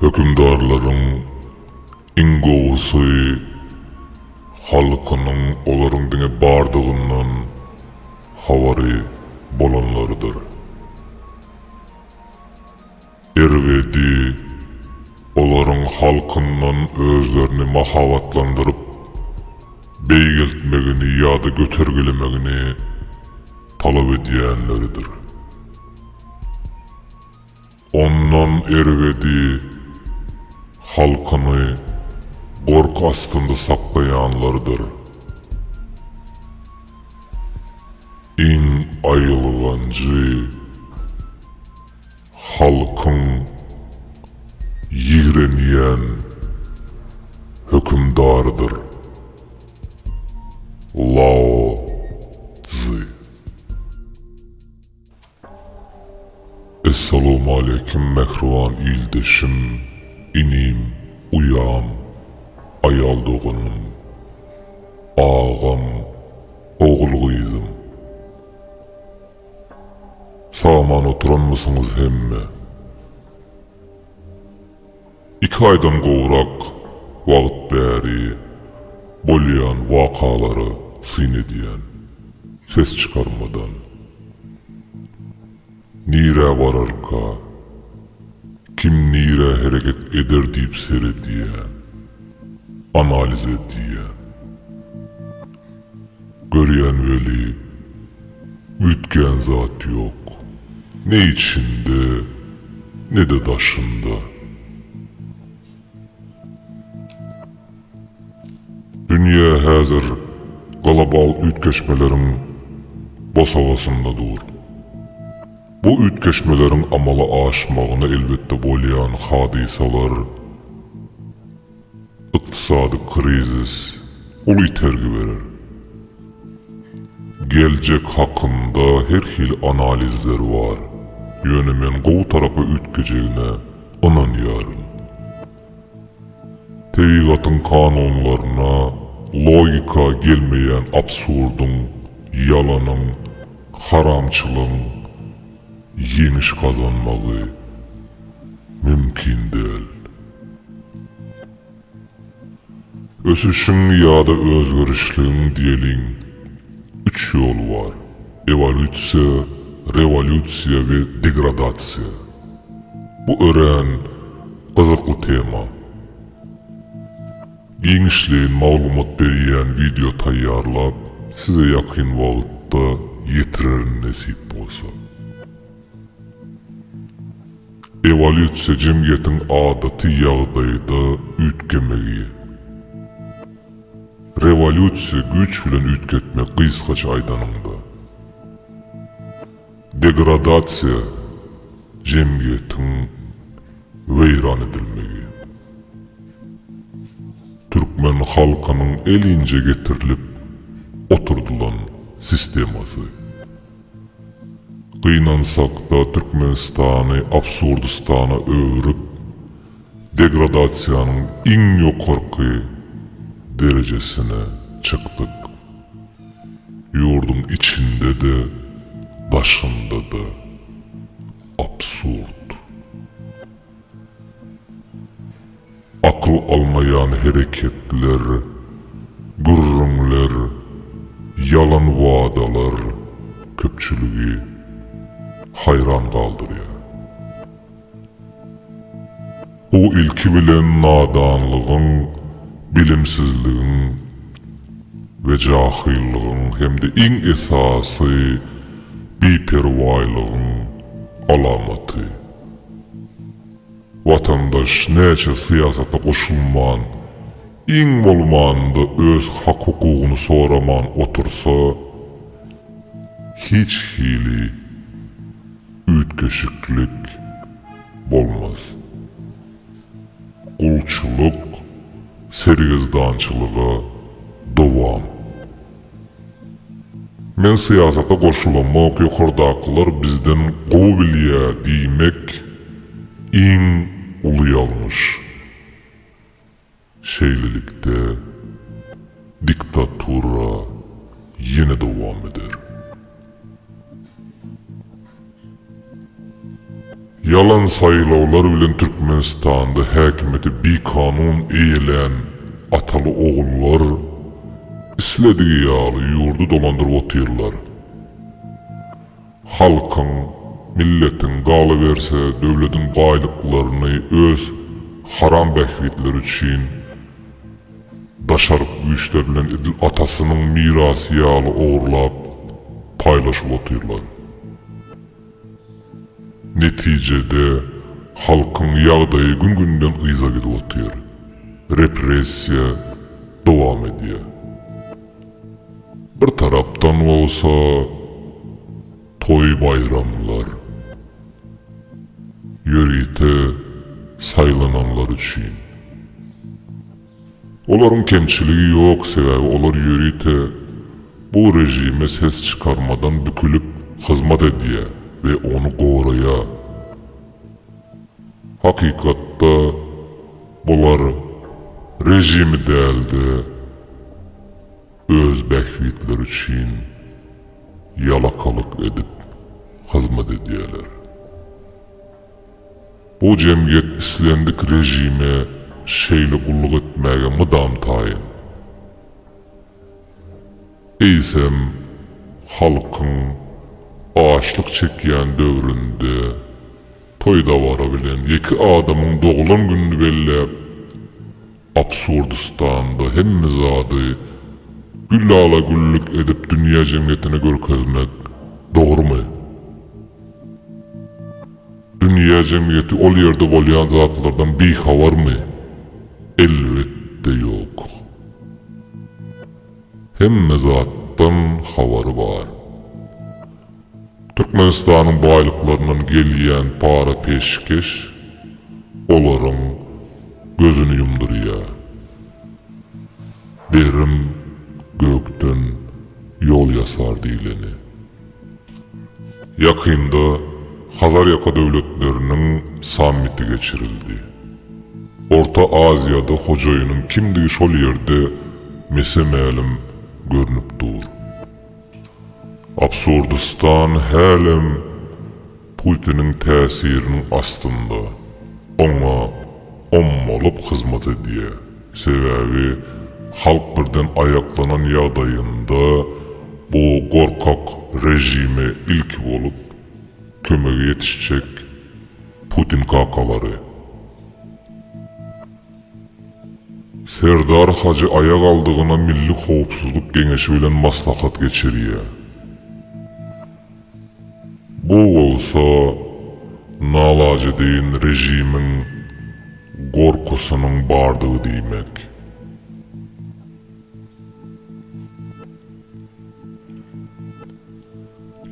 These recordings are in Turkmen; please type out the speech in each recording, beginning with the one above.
Hökümdarlaryň iň gowusy halkynyň olaryň diňe bardygyndan habary bolanlarydyr. Erbedi, olaryň halkyndan özlerini mahabatlandyryp, beýgeltmegini ýa-da götergelemegini talap edýänleridir. Ondan erbedi, halkyny gorky astynda saklaýanlarydyr. Iň aýylganjy. Halkyň ýigrenýän hökümdarydyr. Lao Tzy. Essalawmaleýkim mähriban ildeşim, inim, uýam, aýal doganym, agam, ogul gyzym. Salaman oturanmysyňyz hemme? Iki aýdan gowrak wagt bäri bolýan wakalara syn edýän, ses çykarmadan. Nirä bararka, kim nirä hereket eder diýip seredýän, analiz edýän. Görýän weli, üýtgän zat ýok. Ne içinde, ne-de daşynda. Dünýä häzir global üýtgeşmeleriň bosagasynda dur. Bu üýtgeşmeleriň amala aşmagyna elbetde bolýan hadysalar, Ykdysady krizis uly itergi berer. Geljek hakynda her hili analizler bar, ýöne men gowy tarapa üýtgejegine ynanýaryn. Tebigatyň kanunlaryna logika gelmeýän absurdyň, ýalanyň, haramçylygyň, ýeňiş gazanmagy mümkin däl. Ösüşiň ýa-da özgerişligiň diýeliň üç ýoly bar, ewolýusiýa, rewolýusiýa we degradasiýa. Bu örän gyzykly tema. Giňişleýin maglumat berýän wideo taýýarlap, size ýakyn wagtda ýetirerin nesip bolsa. Ewolýusiýa jemgyýetiň adaty ýagdaýda üýtgemegi. Rewolýusiýa güýç bilen üýtgetmek gysgaça aýdanyňda. Degradasiýa, jemgyýetiň weýran edilmegi. Türkmen halkynyň elinje getirilip oturdylan sistemasy. Gynansakda Türkmenistany absurdistana öwrüp, degradasiýanyň iň ýokarky derejesine çykdyk. Ýurduň içinde-de, daşynda-da absurd. Akyl almaýan hereketler, gürrüňler, ýalan wadalar köpçüligi haýran galdyrýar. Bu ilki bilen nadanlygyň, bilimsizligiň we jahyllygyň hem-de iň esasy biperwaýlygyň alamaty. Watandaş näçe syýasata goşulman, iň bolmanda öz hak-hukugyny soraman otursa, hiç hili. üýtgeşiklik bolmaz. Gulçulyk sergezdançylyga dowam. Men syýasata goşulamok, ýokardakylar bizden gowy bilýä diýmek iň uly ýalňyş. Şeýlelikde, diktatura ýene dowam eder. Ýalan saýlawlar bilen Türkmenistanda häkimiýeti bikanun eýelän ataly-ogullar isledigi ýaly ýurdy dolandyryp otyrlar. Halkyň, milletiň, galyberse, döwletiň baýlyklaryny öz haram bähbitleri üçin daşarky güýçler bilen edil atasynyň mirasy ýaly ogurlap, paýlaşyp otyrlar. Netijede, halkyň ýagdaýy gün-günden yza gidip otyr. Repressiýa dowam edýär. Bir tarapdan bolsa toý-baýramlar, ýörite saýlananlar üçin. Olaryň kemçiligi ýok, sebäbi olar ýörite bu režime ses çykarmadan bükülip hyzmat edýär we ony goraýar. Hakykatda, bular režimi däl-de, öz bähbitleri üçin ýalakalyk edip hyzmat edýärler. Bu jemgyýet islendik režime şeýle gulluk etmäge mydam taýyn. Eýsem, halkyň açlyk çekýän döwründe, Toý-dabara bilen ýeke adamyň doglan gününi belläp, Absurdistanda hemme zady gül-lala-güllük edip dünýä jemgyýetine görkezmek dogrumy? Dünýä jemgyýeti ol ýerde bolýan zatlardan bihabarmy? Elbetde ýok. Hemme zatdan habary bar. Türkmenistanyň baýlyklaryndan gelýän para peşgeş olaryň gözüni ýumdurýar. Berim gökden ýol ýasar diýleni. Ýakynda Hazarýaka döwletleriniň sammiti geçirildi. Orta Aziýada hojaýynyň kimdigi şol ýerde mese-mälim görnüp dur. Absurdistan hälem Putiniň täsiriniň astynda, oňa ommalyp hyzmat edýär. Sebäbi halk birden aýaklanan ýagdaýynda bu gorkak režime ilki bolup kömege ýetişjek Putin kakalary. Serdar Hajy aýagaldygyna Milli howpsuzlyk geňeşi bilen maslahat geçirýär. Bu bolsa nalajedeýin režimiň gorkusynyň bardygy diýmek.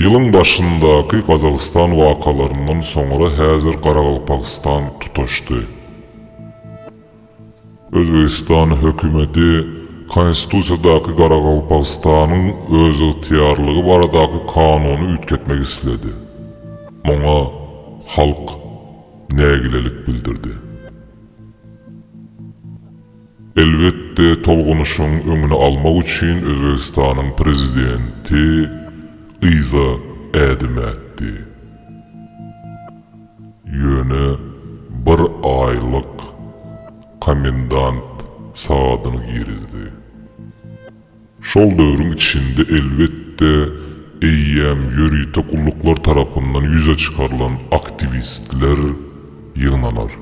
Ýylyň başyndaky Gazagystan wakalaryndan soňra häzir Garagalpagystan tutaşdy. Özbegistan hökümeti Konstitusiýadaky Garagalpagystanyň özygtyýarlygy baradaky kanuny üýtgetmek isledi. Muňa halk nägilelik bildirdi. Elbetde, tolgunyşyň öňüni almak üçin Özbegistanyň prezidenti yza ädim ätdi. Ýöne bir aýlyk komendant sagadyny girizdi. Şol döwrüň içinde, elbetde, eýýäm ýörite gulluklar tarapyndan ýüze çykarylan aktiwistler ýygnanar.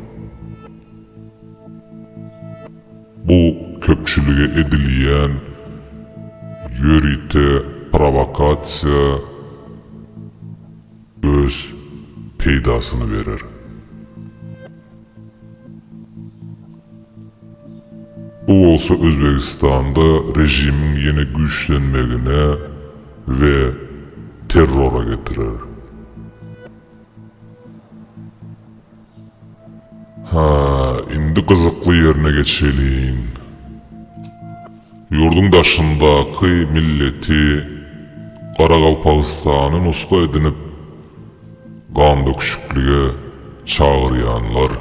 Bu köpçülige edilýän ýörite prowokasiýa öz peýdasyny berer. Bu bolsa Özbegistanda režimiň ýene güýçlenmegine we terrora getirer. Hä, indi gyzykly ýerine geçeliň. Ýurduň daşyndaky milleti Garagalpagystany nusga edinip, gandöküşiklige çagyrýanlar,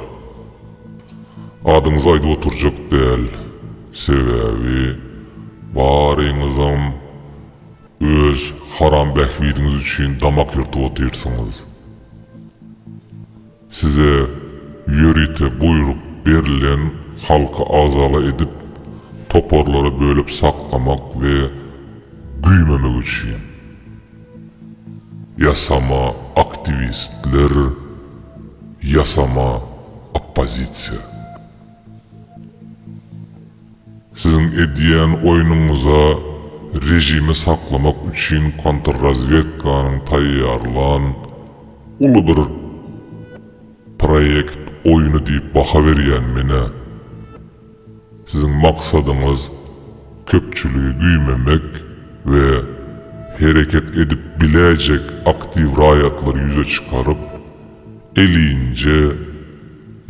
adyňyzy aýdyp oturjak däl, sebäbi baryňyzam öz haram bähbidiňiz üçin damak ýyrtyp otyrsyňyz. Size ýörite buýruk berilen halky agzala edip, toparlara bölüp saklamak we güýmemek üçin. Ýasama aktiwistler, ýasama oppozisiýa. Siziň edýän oýnuňyza režimi saklamak üçin kontrrazwedkanyň taýýarlan uly bir proýekt oýny diýip baha berýän menä. Siziň maksadyňyz köpçüligi güýmemek we hereket edip biläýjek aktiw raýatlary ýüze çykaryp, elinje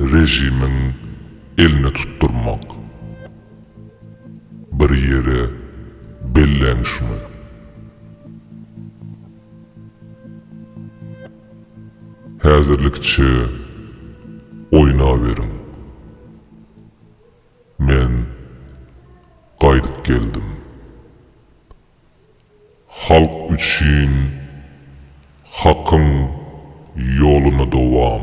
režimiň Elini tutdurmak. Bir ýere belläň şuny. Häzirlikçe oýnaberiň. Men gaýdyp geldim. Halk üçin Hakyň ýoluna dowam.